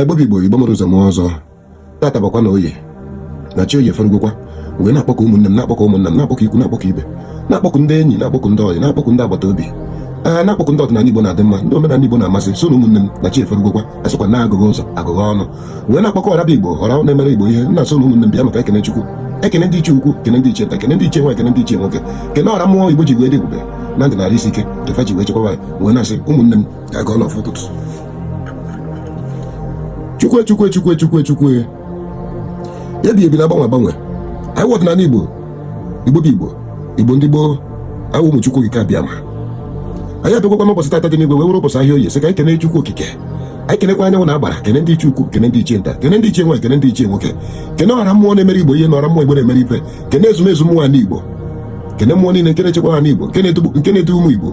igbo bụ igbo igbo mụrụ ụzọ mụọ ọzọ tata bụkwa na oye na chi oye ferugokwa wee na-akpọkọ ụmụnne m na-akpọkọ ụmụnna m na-akpọkọ ikwu na-akpọkọ ibe na-akpọkọ ndị enyi na-akpọkọ ndị ọyị na-akpọkọ ndị agbata obi ee na-akpọkọ ndị ọdịnala igbo na-adị mma ndị omenala igbo na-amasị sị na ụmụnne m na chi eferugokwa asịkwa na agụghị ụzọ agụghị ọnụ wee na-akpọkọ ọraba igbo ọra na-emere igbo ihe nna sị na ụmụnne m bịa maka ekene chukwu ekene ndị ichie ukwu kene ndị ichie nta kene ndị ichie nwaanyị kene ndị ichie nwoke kene ọra mmụọ igbo ji wee dị ebube na ndụ na arụ isi ike nke fa ji wee chekwaba wee na-asị ụmụnne m a gọọnụ ọfọ ụtụtụ chukwe chukwe chukwe chukwe chukwe ebi ebi na-agbanwe agbanwe anyị wụ ọdịnala igbo igbo bụ igbo igbo ndị gboo awụ ụmụ chukwu okike abịama anyị abịakwakwa n'ụbọchị tata dị n'igwe wee were ụbọchị ahịa oye sị ka anyị kene chukwu okike anyị kenekwa anyanwụ na agbara kene ndị ichie ukwu kene ndị ichie nta kene ndị ichie nwaanyị kene ndị ichie nwoke kene ọra mmụọ na-emere igbo ihe na ọra mmụọ igbo na-emere ife kene ezumezu mmụọ ala igbo kene mmụọ niile nke na-echekwa ala igbo nke na-edu ụmụ igbo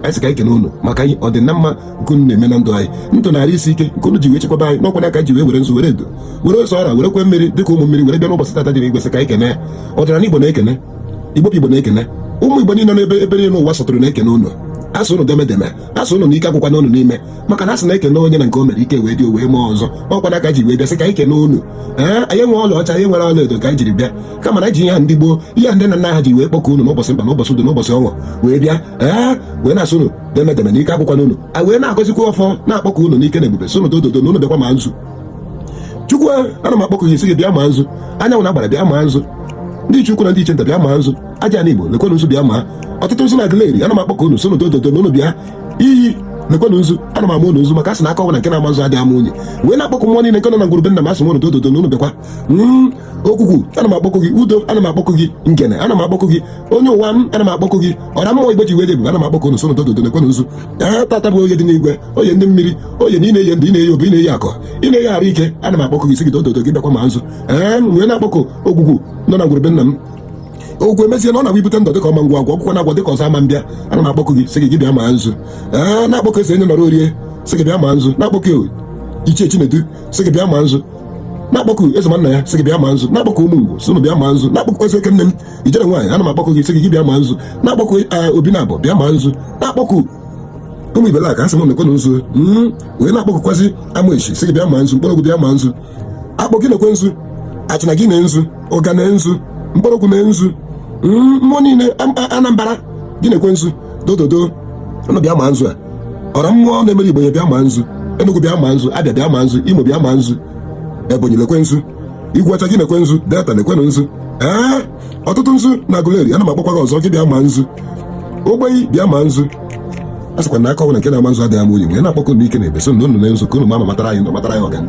anyị sị ka anyị kene unu maka ọdịmma nke unu na-eme na ndụ anyị ndụ na arụ isi ike nke unu ji wee chekwaba anyị na ọ kwa nya ka e ji wee were nzu were edo were ose ọra werekwa mmiri dịka ụmụ mmiri were bịa n'ụbọchị tata dị n'igwe sị ka anyị kene ya ọdịnala igbo na-ekene igbo igbo na-ekene ụmụ igbo niile n'ebe ebe niile ụwa sọtụrụ na-ekene unu asị ụnụ deeme deeme asị ụnụ na ike agwụkwana ụnụ n'ime maka na asị na e kene onye na nke o mere ike wee dị o wee mee ọzọ ọ kwa nya ka e ji wee bịa sị ka anyị kene unu ee anyị enwerọ ọla ọcha anyị enwerọ ọla edo ka anyị jiri bịa kama na ji ihe ha ndị gboo ihe ndị nna nna ha ji wee kpọkọ unu n'ụbọchị mkpa n'ụbọchị udo n'ụbọchị ọṅụ wee bịa ee wee na-asị unu deeme deeme na ike agwụkwana unu a wee na-agọzikwa ọfọ na-akpọkọ unu n'ike na ebube sị unu dododo na unu bịakwa ma nzu chukwu ana m akpọkọ gị sị gị bịa ma nzu anyanwụ na agbara bịa ma nzu ndị ichie ukwu na ndị ichie nta bịa ma nzu ajana igbo lekwenụ nzu bịa ma otutu nzu na aguleri ana m akpọkọ unu sị unu dododo na unu bịa iyi lekwenụ nzu ana m ama unu nzu maka a sị na aka ọbụla nke na-ama nzu adịghị ama unyi wee na-akpọkọ mmụọ niile nke nọ na ngwuru be nna m asị m unu dododo na unu bịakwa ogwugwu ana m akpọkụ gị udo ana m akpọkụ gị ngene ana m akpọkụ gị onye ụwa m ana m akpọkụ gị ọra mmụọ igbo ji wee dị ebube ana m akpọkụ unu sị unu dododo nekwenụ nzu a tata bụ oye dị n'igwe oye ndị mmiri oye na ị na-eye ndụ ị na-eye obi ị na-eye akọ ị na-eye arụ ike ana m akpọkụ gị sị gị dododo gị bịakwa ma nzu ee m wee na-akpọkụ ogwugwu nọ na ngwuru be nna m ogwe mezie na ọ na-agwa ibute ndụ dịka ọma ngwa agwa ọgwụkwọ na-agwa dịka ọzọ ama mbịa ana m akpọkụ gị sị gị gị bịa ma nzu ee na-akpọkụ esi enye nọrọ orie sị gị bịa ma nzu na-akpọkụ ichie chinedu sị gị bịa ma nzu na-akpọku eze nna ya sị gị bịa ma nzu na-akpọku ụmụ ngwo sị bịa ma nzu na-akpọku ezi oke nne m ijere nwaanyị ana m akpọku gị sị gị bịa ma nzu na-akpọku eh, obinabọ bịa ma nzu na-akpọku ụmụ ibela ka asị m nekwenụ nzu hmm, wee na-akpọkụkwazi amesi sị gị bịa ma nzu nkpọrọgwụ bịa ma nzu akpọ gị nekwe nzu achịna gị na nzu ụga na nzu nkpọrọgwụ na nzu hmm, mmụọ niile anambra gị nekwe nzu dododo ụnụ bịa ma nzu a ọra mmụọ na-emere igbo ihe bịa ma nzu Enugu bịa ma nzu Abịa bịa ma nzu Imo bịa ma nzu Ebonyi lekwe nzu Igweọcha gị nekwe nzu Delta nekwenụ nzu ee otutu nzu na Aguleri ana m akpọkwa gị ọzọ gị bịa ma nzu ogbenyi bịa ma nzu a sịkwa na aka ọbụla nke na-ama nzu adịghị ama unyi wee na-akpọkọ n'ike na ebube sị na unu na nzu ka unu ma matara anyị matara anyị ọganihu